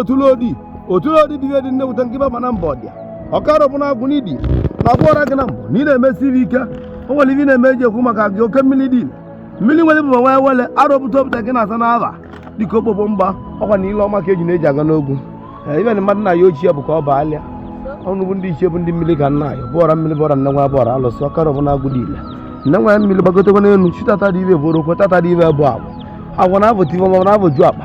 otulodi otulodi bụ ihe dị nnewute nke ibe mana mbọ dị ọkara bụ na agwụ n'idi na agwụ ọra gị na mbọ na ị na-emesiri ike o nwere ibe ị na-eme eji ekwu maka gị oke mmiri dị mmiri nwere bụ nwee wele arọpụta opụta gị na-asa n'aba dịka okpogbo mgba ọkwa na ile ọma ka eji na-eji aga n'ogwu ee ibe na mmadụ na ya ochie bụ ka ọ bụ alịa ọnụ bụ ndị ichie bụ ndị mmiri ka nna ya bụ ọra mmiri bụ ọra nne nwa bụ ọra alụsị ọkara bụ na agwụ dị ile nne nwa ya mmiri gbagotekwa n'elu chi tata dibịa bụ orokwe tata dibịa bụ agwụ agwụ na-abụ tibe ma na-abụ ju akpa